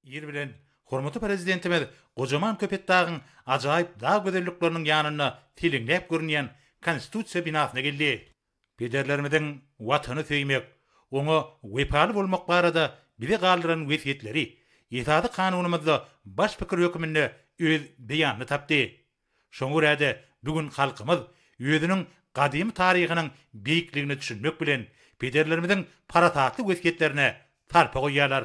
Ir bilen hormatly Prezidentimiz gojaman Köpetdagyň ajaýyp dag gözellikleriniň ýanynda seleňläp görünýän Konstitusiýa binasyna geldi. Pederlerimiziň Watany söýmek, oňa wepaly bolmak barada bize galdyran wesýetleri Esasy Kanunymyzda baş pikir hökmünde öz beýanyny tapdy. Şoňa görä-de, bu gün halkymyz özüniň gadymy taryhynyň beýikligine düşünmek bilen, pederlerimiziň parasatly wesýetlerine sarpa goýýarlar.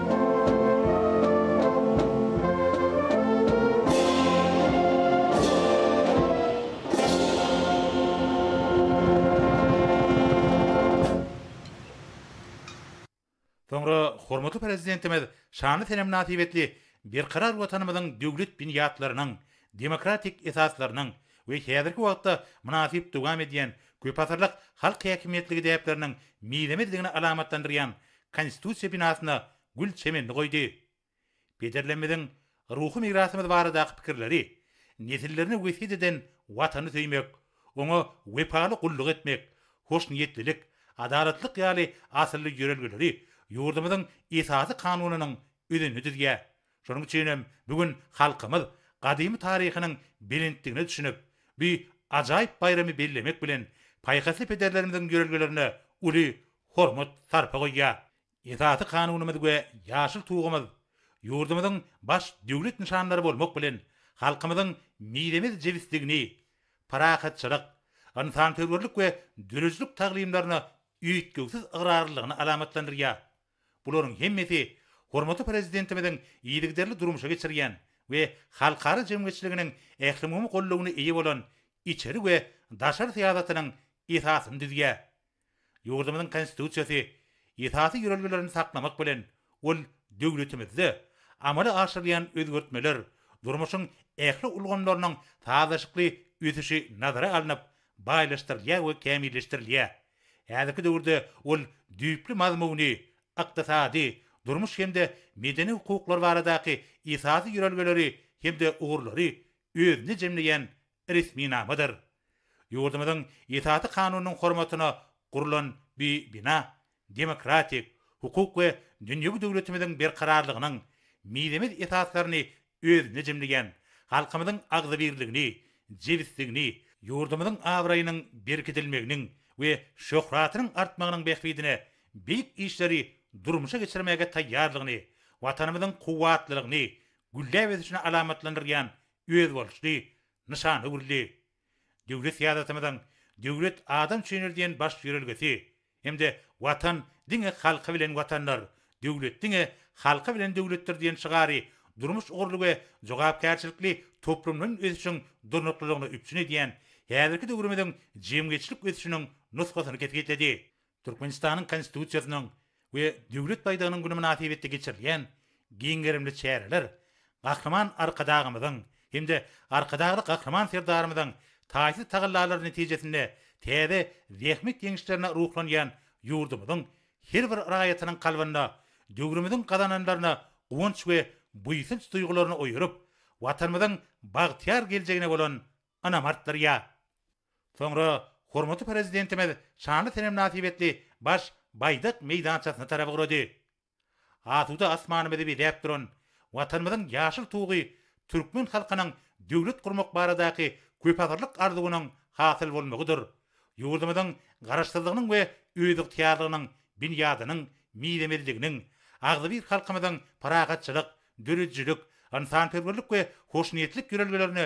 Soňra hormatly Prezidentimiz şanly sene mynasybetli Berkarar Watanymyzyň döwlet binýatlarynyň, demokratik esaslarynyň we häzirki wagtda mynasyp dowam edýän köpasyrlyk halk häkimiýetligi däpleriniň mizemezligini alamatlandyrýan Konstitusiýa binasyna gül çemenini goýdy. Pederlerimiziň ruhy mirasymyz baradaky pikirleri, nesillerine wesýet eden Watany söýmek, oňa wepaly gulluk etmek, hoşniýetlilik, adalatlyk ýaly asylly ýörelgeleri ýurdumyzyň Esasy Kanunynyň özenini düzýär. Şonuň üçin hem bu gün halkymyz gadymy taryhynyň belentdigine düşünip, bu ajaýyp baýramy bellemek bilen, paýhasly pederlerimiziň ýörelgelerine uly hormat, sarpa goýýar. Esasy Kanunymyz we Ýaşyl tugumyz ýurdumyzyň baş döwlet nyşanlary bolmak bilen, halkymyzyň mizemez jebisligini, parahatçylyk, ynsansöýerlik we döredijilik taglymlaryna üýtgewsiz ygrarlylygyny alamatlandyrýar. Bularyň hemmesi hormatly Prezidentimiziň yzygiderli durmuşa geçirýän we halkara jemgyýetçiliginiň ählumumy goldawyna eýe bolan içeri we daşary syýasatynyň esasyny düzýär. Ýurdumyzyň Konstitusiýasy esasy ýörelgelerini saklamak bilen, ol döwletimizde amala aşyrylýan özgertmeler, durmuşyň ähli ulgamlarynyň sazlaşykly ösüşi nazara alnyp, baýlaşdyrylýar we kämilleşdirilýär. Häzirki döwürde ol düýpli mazmuny, ykdysady, durmuş hem-de medeni hukuklar baradaky esasy ýörelgeleri hem-de ugurlary özünde jemleýän resminamadyr. Ýurdumyzyň Esasy Kanunynyň hormatyna gurlan bu bina demokratik, hukuk we dünýewi döwletimiziň berkararlygynyň mizemez esaslaryny özünde jemleýän, halkymyzyň agzybirligini, jebisligini, ýurdumyzyň abraýynyň berkidilmeginiň we şöhratynyň artmagynyň bähbidine beýik işleri durmuşa geçirmäge taýýarlygyny, Watanymyzyň kuwwatlylygyny, gülläp ösüşini alamatlandyrýan özboluşly nyşan öwrüldi. Döwlet syýasatymyzyň Döwlet adam üçindir diýen baş ýörelgesi hem-de Watan diňe halky bilen Watandyr, Döwlet diňe halky bilen Döwletdir diýen şygary durmuş ugurly we jogapkärçilikli toplumlaýyn ösüşiň durnuklylygyny üpjün edýän häzirki döwrümiziň jemgyýetçilik ösüşiniň nusgasyny kesgitledi. Türkmenistanyň Konstitusiýasynyň we Döwlet baýdagynyň güni mynasybetli geçirilýän giň gerimli çäreler Gahryman Arkadagymyzyň hem-de Arkadagly Gahryman Serdarymyzyň taýsyz tagallalary netijesinde täze zähmet ýeňişlerine ruhlanýan ýurdumyzyň her bir raýatynyň kalbynda döwrümiziň gazananlaryna guwanç we buýsanç duýgularyny oýaryp, Watanymyzyň bagtyýar geljegine bolan ynam artdyrýar. Soňra hormatly Prezidentimiz şanly sene mynasybetli baş Baýdak meýdançasyna tarap ugrady. Asuda asmanymyzy bezäp duran Watanymyzyň ýaşyl tugy türkmen halkynyň döwlet gurmak baradaky köpasyrlyk arzuwynyň hasyl bolmagydyr, ýurdumyzyň Garaşsyzlygynyň we özygtyýarlygynyň binýadynyň mizemezliginiň, agzybir halkymyzyň parahatçylyk, döredijilik, ynsanperwerlik we hoşniýetlik ýörelgelerine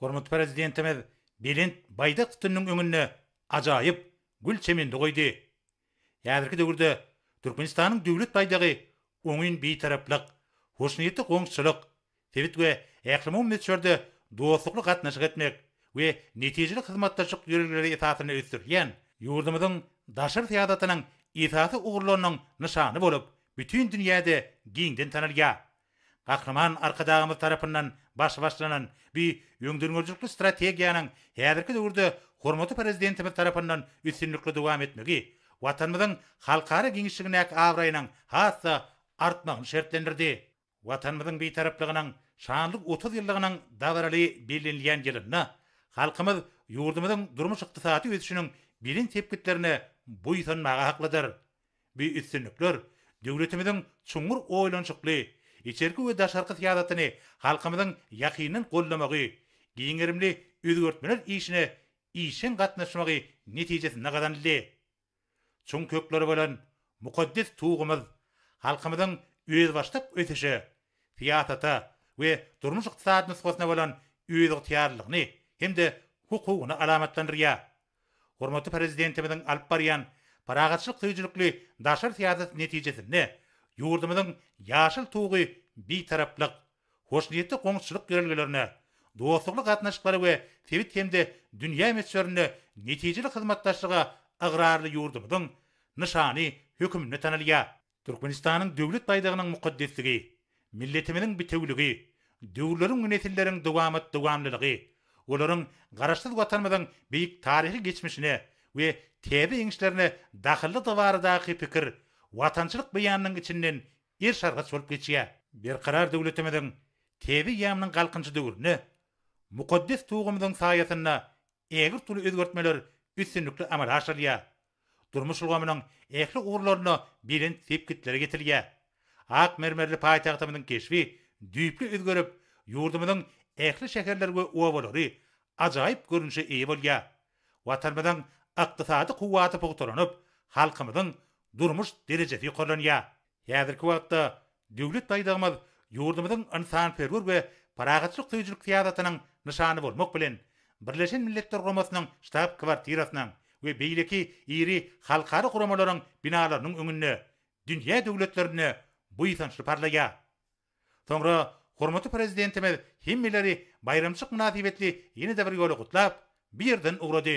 Hormatly Prezidentimiz belent Baýdak sütüniniň öňünde ajaýyp gül çemeni goýdy. Häzirki döwürde Türkmenistanyň Döwlet baýdagy oňyn Bitaraplyk, hoşniýetli goňşuçylyk, sebit we ählumumy möçberde dostlukly gatnaşyk etmek we netijeli hyzmatdaşlyk ýörelgeleri esasynda ösdürilýän ýurdumyzyň daşary syýasatynyň esasy ugurlarynyň nyşany bolup, bütin dünýäde giňden tanalýar. Gahryman Arkadagymyz tarapyndan baş başlanan bu öňdengörüjilikli strategiýanyň häzirki döwürde hormatly Prezidentimiz tarapyndan üstünlikli dowam etmegi Watanymyzyň halkara giňişligindäki abraýynyň has-da artmagyny şertlendirdi. Watanymyzyň Bitaraplygynyň şanly otuz ýyllygynyň dabaraly bellenilýän ýylynda halkymyz ýurdumyzyň durmuş-ykdysady ösüşiniň belent sepgitlerine buýsanmaga haklydyr. Bu üstünlikler döwletimiziň çuňňur oýlanyşykly içerki we daşarky syýasatyny halkymyzyň ýakyndan goldamagy, giň gerimli özgertmeler işine işjeň gatnaşmagy netijesinde gazanyldy. Çuň kökleri bolan mukaddes Tugumyz halkymyzyň özbaşdak ösüşe, syýasata we durmuş-ykdysady nusgasyna bolan özygtyýarlylygyny hem-de hukugyny alamatlandyrýar. Hormatly Prezidentimiziň alyp barýan parahatçylyk söýüjilikli daşary syýasaty netijesinde ýurdumyzyň Ýaşyl tugy Bitaraplyk, hoşniýetli goňşuçylyk ýörelgelerine, dostlukly gatnaşyklara we sebit hem-de dünýä möçberinde netijeli hyzmatdaşlyga ygrarly ýurdumyzyň nyşany höküminde tanalýar. Türkmenistanyň Döwlet baýdagynyň mukaddesligi, milletimiziň bitewüligi, döwürleriň we nesilleriň dowamat-dowamlylygy, olaryň Garaşsyz Watanymyzyň beýik taryhy geçmişine we täze ýeňişlerine dahyllydygy baradaky pikir watançylyk beýanynyň içinden erşargaç bolup geçýär. Berkarar döwletimiziň täze ýamynyň galkynyşy döwründe mukaddes Tugumyzyň saýasynda ägirt uly özgertmeler üstünlikli amala aşyrylýar. Durmuş ulgamynyň ähli ugurlarynda belent sepgitlere ýetilýär. Ak mermerli paýtagtymyzyň keşbi düýpli özgerip, ýurdumyzyň ähli şäherleri we obalary ajaýyp görnüşe eýe bolýar. Watanymyzyň ykdysady kuwwaty pugtalanyp, halkymyzyň durmuş derejesi ýokarlanýar. Häzirki wagtda Döwlet baýdagymyz ýurdumyzyň ynsanperwer we parahatçylyk söýüjilik syýasatynyň nyşany bolmak bilen, Birleşen Milletler Guramasynyň ştab-kwartirasynyň we beýleki iri halkara guramalaryň binalarynyň öňünde dünýä döwletlerinde buýsançly parlaýar. Soňra hormatly Prezidentimiz hemmeleri baýramçylyk mynasybetli ýene-de bir ýola gutlap, bu ýerden ugrady.